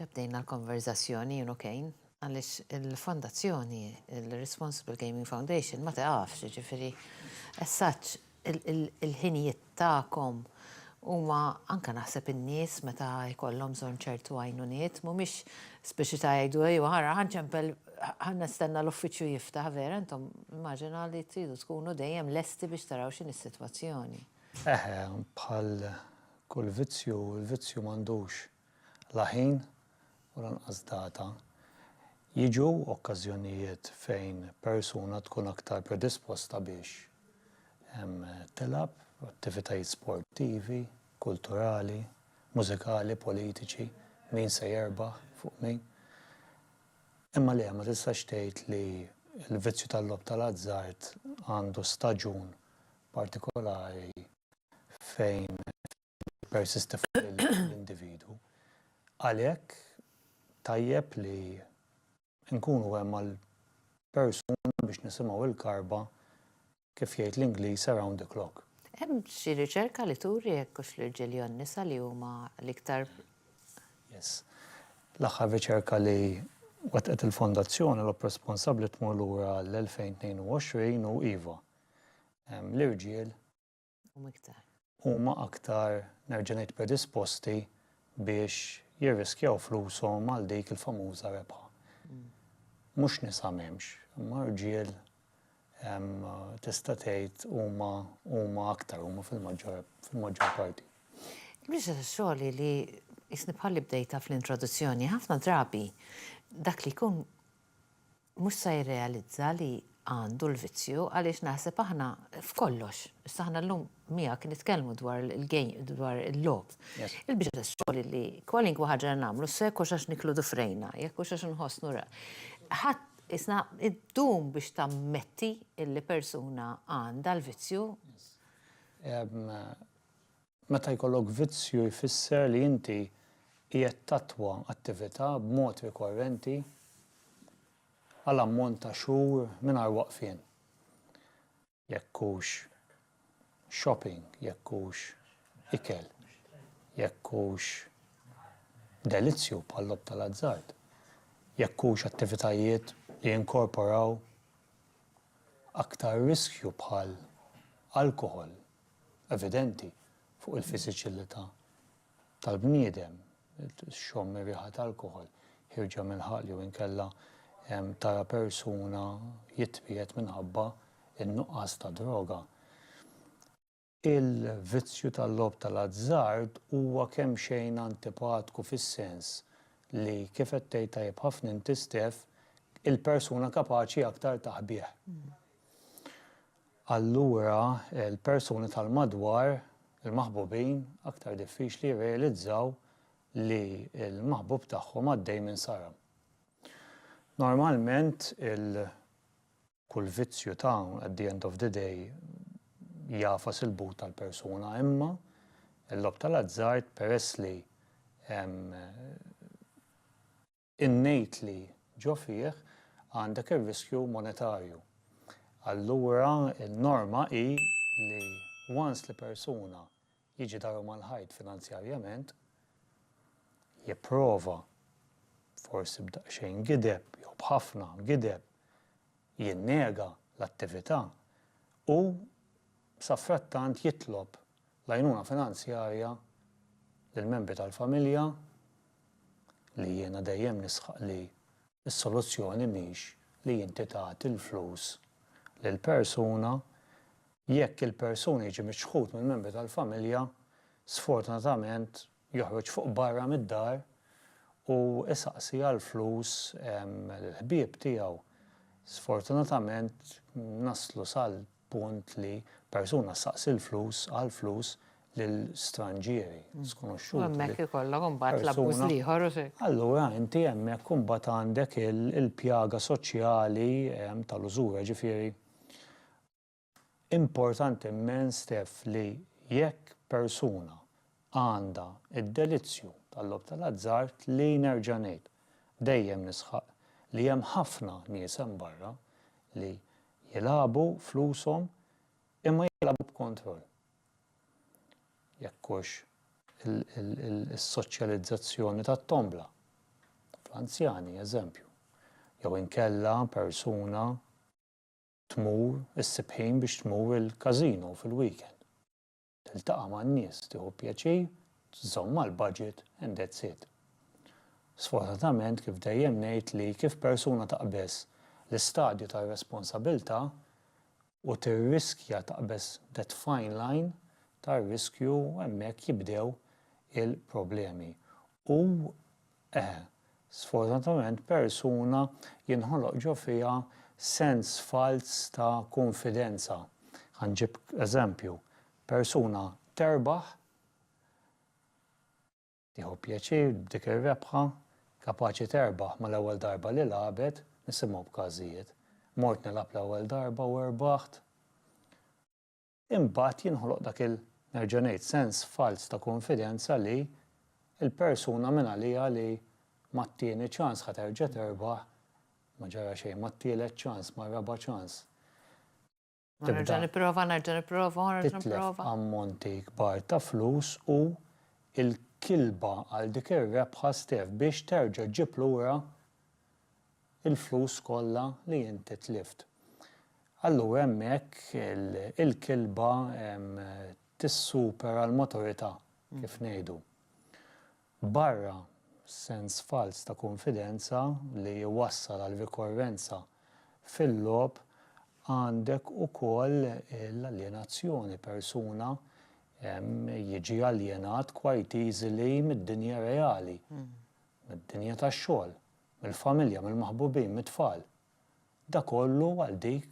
Ġa bdejna l-konverżazzjoni jien u Kane għaliex il-fondazzjoni, il-Responsible Gaming Foundation, ma tiqafx, ġifieri as such il-ħinijiet tagħkom huma anke naħseb in-nies meta jkollhom bżonn ċertu għajnuniet mhumiex speċi ta' jgħidu ejwa ara ħa nċempel ħa nistenna l-uffiċċju jiftaħ vera intom immaġina li tridu tkunu dejjem lesti biex taraw x'inhi s-sitwazzjoni. Eħe, bħal Kull vizzju hu l-vizzju m'għandux la ħin u lanqas data. Jiġu okkażjonijiet fejn persuna tkun aktar predisposta biex tilgħab attivitajiet sportivi, kulturali, mużikali, politiċi, min se jerbaħ fuq min. Imma le, ma tistax tgħid li l-vizzju tal-logħob tal-azzard għandu staġun partikolari. fejn tippersisti fuq l-individwu. Għalhekk tajjeb li nkunu hemm għall-persuna biex nisimgħu l-karba, kif jgħid l-Ingliż, around the clock. Hemm xi riċerka li turi jekk hux l-irġiel jew n-nisa li huma l-iktar. Yes. L-aħħar riċerka li wettqet il-Fondazzjoni Logħob Responsabbli tmur lura għall-2022 u iva, l-irġiel huma aktar nerġa' ngħid predisposti biex jirriskjaw flushom għal dik il-famuża rebħa. Mhux nisa m'hemmx, imma rġiel tista' tgħid huma huma aktar huma fil-maġġor parti. Il-biċċa tax-xogħol hi li qisni bħal li bdejtha fl-introduzzjoni, ħafna drabi dak li jkun mhux se jirrealizza li għandu l-vizzju għaliex naħseb aħna f'kollox, issa aħna llum miegħek nitkellmu dwar il-game dwar il-logħob. Il-biċċa tax-xogħol li kwalinkwa ħaġa li nagħmlu se jkunx għax niklu dufrejna, jekk hux għax inħossnu ra. Ħadd isna ddum biex tammetti li persuna għandha l-vizzju. Meta jkollok vizzju jfisser li inti qiegħed tattwa attività b'mod rikorrenti għal ammont ta' xhur mingħajr waqfien. Jekk hux shopping, jekk hux ikel, jekk hux delizzju bħal-logħob tal-azzard, jekk hux attivitajiet li jinkorporaw aktar riskju bħal alkoħol, evidenti fuq il-fiżiċilità tal-bniedem, txomm ir-riħa ta' alkoħol, ħierġa mill-ħalq jew inkella tara persuna jitwiegħed minħabba n-nuqqas ta' droga. Il-vizzju tal-logħob tal-azzard huwa kemxejn antipatku fis-sens li, kif qed tgħid tajjeb ħafna inti Steph, il-persuna kapaċi aktar ta' qbigħ. allura l-persuni tal-madwar, il-maħbubin, aktar diffiċli jirrealizzaw li l-maħbub tagħhom għaddej minn saram. Normalment il kull vizzju ta' at the end of the day jagħfas il-but tal-persuna imma l-logħob tal-azzard peress li hemm Innejt li ġo fih għandek ir-riskju monetarju. Allura n-norma hi li once li persuna jiġi daru mal-ħajt finanzjarjament, jipprova, forsi b'daqsxejn gideb jew b'ħafna gideb, jinnega l-attività, hu safrattant jitlob L-għajnuna finanzjarja lill-membri tal-familja, li jiena dejjem nisħaq li s-soluzzjoni mhix li inti tagħti l-flus lil persuna, jekk il-persuna jiġi miċħud mill-membri tal-familja, sfortunatament joħroġ fuq barra mid-dar u jsaqsi għall-flus lill-ħbieb tiegħu. Sfortunatament naslu sal. punt li persuna ssaqsi l-flus għall-flus lil stranġieri, skonoxxuti. U hemmhekk ikollok imbagħad l-abbuż l-ieħor. Allura inti hemmhekk imbagħad għandek il-pjaga soċjali tal-użura. Jiġifieri importanti mmens, Steph, li jekk persuna għandha d-delizzju tal-logħob tal-azzard li, nerġa' ngħid, dejjem nisħaq li hemm ħafna nies hemm barra li jilagħbu flushom imma jilagħbu b'kontroll. Jekk hux is-soċjalizzazzjoni tat-tombla fl-anzjani, eżempju, jew inkella persuna tmur issib ħin biex tmur il-każino fil-weekend. tiltaqa' man-nies, tieħu pjaċir, żżomm mal-budget and that's it. Sfortunatament kif dejjem ngħid li kif persuna taqbeż l-istadju tar-responsabilità u tirriskja taqbeż that fine line tar-riskju hemmhekk jibdew il-problemi u Eħe, sfortunatament persuna jinħoloq ġo fiha sens falz ta' kunfidenza. Ħa nġib eżempju, persuna terbaħ, tieħu pjaċir b'dik ir-rebħa, kapaċi terbaħ mal-ewwel darba li lagħbet, nisimgħu b'każijiet, mort nilgħab l-ewwel darba u rbaħt, imbagħad jinħoloq dak il, nerġa' ngħid, sens falz ta' kunfidenza li l-persuna mingħaliha li mat-tieni ċans ħa terġa' terbaħ, ma ġara xejn, mat-tielet ċans, mar-raba' ċans, tibda. Nerġa' nipprova, nerġa' nipprova, u nerġa' nipprova. Titlef ammonti kbar ta' flus u l-kilba għal dik ir-rebħa stef biex terġa' ġġib lura il-flus kollha li inti tlift. Allura hemmhekk il-kilba tissupera l-maturità, kif ngħidu. Barra sens falz ta' kunfidenza li jwassal għal rikorrenza fil-logħob, għandek ukoll l-aljenazzjoni, persuna jiġi aljenat quite easily mid-dinja reali, mid-dinja tax-xogħol. mill-familja, mill-maħbubin, mit-tfal. Da kollu għal dik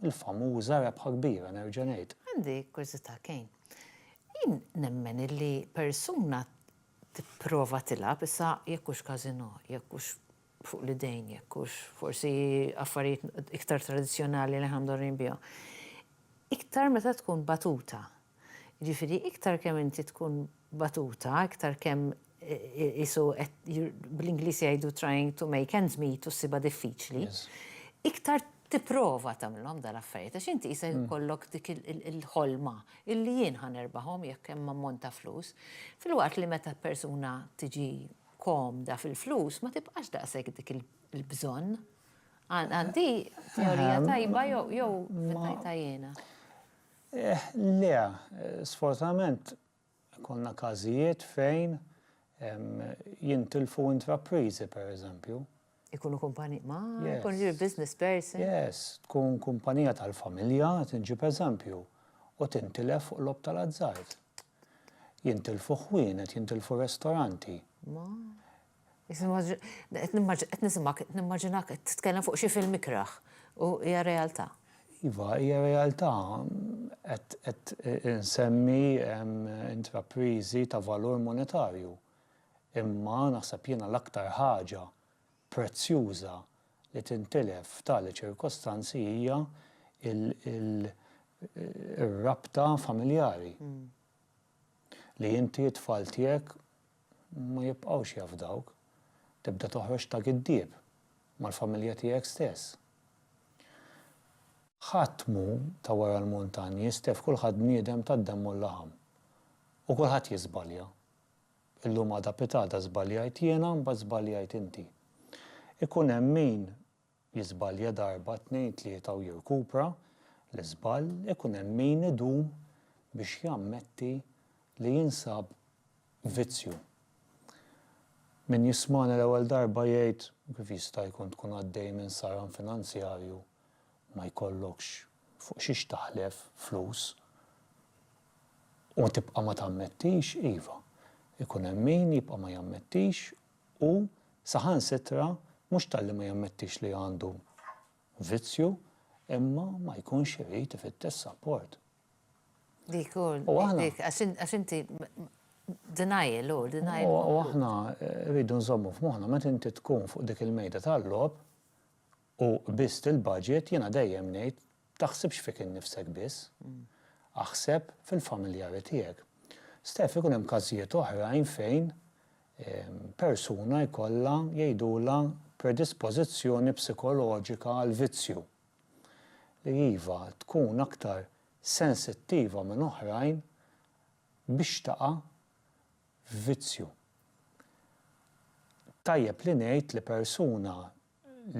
il-famuża rebħa kbira, nerġa' ngħid. Għandi kurżità, Kane. Jien nemmen illi persuna tipprova tilgħab, issa jekk hux casino, jekk hux fuq l-idejn, jekk hux forsi affarijiet iktar tradizzjonali li aħna mdorrijin bihom, iktar meta tkun batuta. Jiġifieri iktar kemm inti tkun batuta, iktar kemm qisu qed bl-Ingliż jgħidu trying to make ends meet u ssibha diffiċli, iktar tipprova tagħmilhom dal-affarijiet għax inti qisek ikollok dik il-ħolma illi jien ħa nerbahom jekk hemm ammont ta' flus. Filwaqt li meta persuna tiġi komda fil-flus ma tibqax daqshekk dik il-bżonn. Għandi teorija tajba jew fittajtha jiena? Eh, le, sfortunatament konna każijiet fejn jintilfu intrapriżi pereżempju. Ikunu kumpani, ma jkun your business person. Yes, tkun kumpanija tal-familja, tinġi pereżempju, u tintilef fuq lob tal-azzard. Jintilfu ħwienet, jintilfu restoranti. Qed nisimgħek, qed nimmaġinak qed titkellem fuq xi film ikrah u hija realtà. Iva, hija realtà. Qed insemmi intrapriżi ta' valur monetarju. Imma naħseb jiena l-aktar ħaġa prezzjuża li tintilef f'tali ċirkostanzi hija r-rabta familjari. li inti t-tfal tiegħek ma jibqgħux jafdawk, tibda toħroġ ta' giddieb mal-familja tiegħek stess. Ħadd m'hu ta' wara l-muntanji, Steph, kulħadd bniedem tad-demm u l-laħam. U kulħadd jiżbalja. Illum għada pitgħada żbaljajt jiena mbagħad żbaljajt inti. Ikun hemm min jiżbalja darba tnejn tlieta u jirkupra l-iżball ikun hemm min idum biex jammetti li jinsab vizzju. Min jismagħni l-ewwel darba jgħid kif jista' jkun tkun għaddej minn saran finanzjarju ma jkollokx fuq xiex taħlef flus u tibqa' ma tammettix, iva, ikun hemm min jibqa' ma jammettix u saħansitra mhux talli ma jammettix li għandu vizzju imma ma jkunx irid ifittex sapport. Dik hu, dik, għax inti denial hu, denial. U aħna rridu nżommu f'moħħna meta inti tkun fuq dik il-mejda tal-logħob u biss il-budget jiena dejjem ngħid Taħsibx fik innifsek biss. Aħseb fil-familjari tiegħek. Steph, ikun hemm każijiet oħrajn fejn persuna jkollha jgħidulha predispożizzjoni psikoloġika għall-vizzju, li iva, tkun aktar sensittiva minn oħrajn biex taqa' f'vizzju. Tajjeb li ngħid li persuna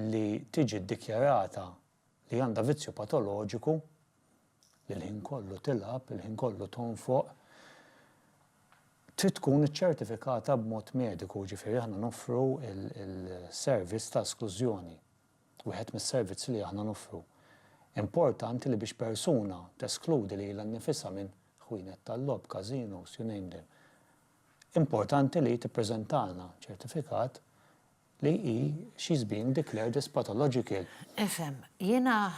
li tiġi ddikjarata li għandha vizzju patoloġiku li l-ħin kollu tilgħab, il-ħin kollu tonfoq, trid tkun iċċertifikata b'mod mediku, jiġifieri aħna noffru l-servizz ta' esklużjoni, wieħed mis-servizzi li aħna noffru. Importanti li biex persuna teskludi lilha nnifisha minn ħwienet tal-logħob, każinos, you name them, importanti li tippreżentalna ċertifikat Li hi she's being declared as pathological. Ifhem, jiena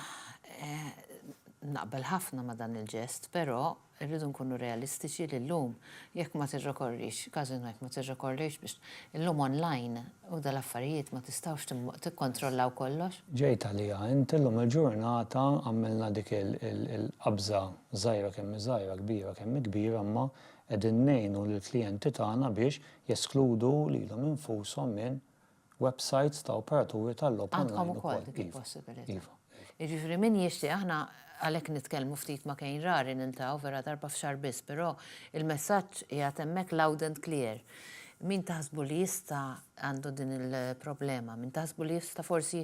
naqbel ħafna ma' dan il-ġest, però rridu nkunu realistiċi li llum jekk ma tirrekorrix, każino jekk ma tirrekorrix biex illum online u dal-affarijiet ma tistgħux tikkontrollaw kollox. Ġejt għaliha int, illum il-ġurnata għamilna dik il-qabża żgħira kemm hi żgħira, kbira kemm hi kbira, imma Qegħdin ngħinu lill-klijenti tagħna biex jeskludu lilhom infushom minn websajts ta' operaturi tal-logħob online ukoll. Għandkom ukoll dik il-possibilità. Iva. Jiġifieri min jixtieq, aħna għalhekk nitkellmu ftit ma' Kane rari niltaqgħu vera darba f'xahar biss, però il-messaġġ qiegħed hemmhekk loud and clear. Min taħsbu li jista' għandu din il-problema, min taħsbu li jista' forsi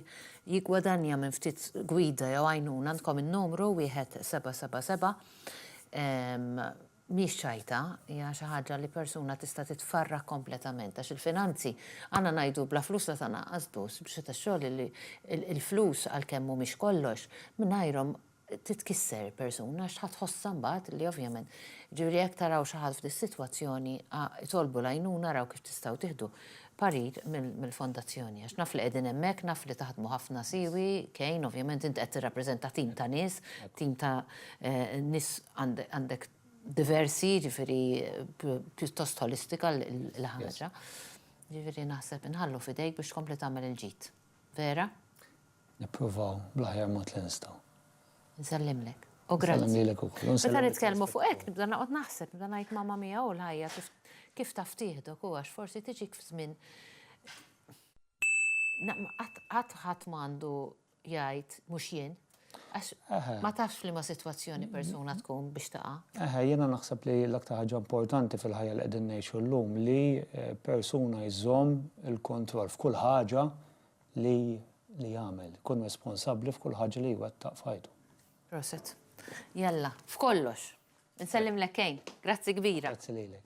jiggwadanja minn ftit gwida jew għajnuna għandkom in-numru 1777. mhix ċajta, hija xi ħaġa li persuna tista' titfarrak kompletament għax il-finanzi għandna ngħidu bla flus la tanaqqas dus biex qed ix-xogħol li il-flus għalkemm mhumiex kollox mingħajrhom titkisser persuna għax tħa tħossha mbagħad li ovvjament ġifieri jekk taraw xi ħadd f'dis-sitwazzjoni itolbu l-għajnuna araw kif tistgħu tieħdu parir mill-fondazzjoni għax naf li qegħdin hemmhekk, naf li taħdmu ħafna siwi, Kane, ovvjament inti qed tirrappreżenta tim ta' nies, tim ta' nies għandek diversi, jiġifieri pjuttost ħolistika l-ħaġa. Jiġifieri naħseb inħallu f'idejk biex tkompli tagħmel il-ġid. Vera? Nippruvaw bl-aħjar mod li nistgħu. Nsellimlek. U grazzi. Nsellim lilek ukoll. Meta nitkellmu fuq hekk nibda noqgħod naħseb, nibda ngħid mamma mia u l-ħajja kif taf tieħdok u għax forsi tiġik f'żmien qatt ħadd m'għandu jgħid mhux jien. Għax ma tafx li ma sitwazzjoni persuna tkun biex taqa'. Eħe, jiena naħseb li l-aktar ħaġa importanti fil-ħajja li qegħdin ngħixu llum li persuna jżomm il-kontroll f'kull ħaġa li li jagħmel, ikun responsabbli f'kull ħaġa li jwettaq f'ħajtu. Proset. Jalla, f'kollox. Nsellimlek kejn. Grazzi kbira. Grazzi lilek.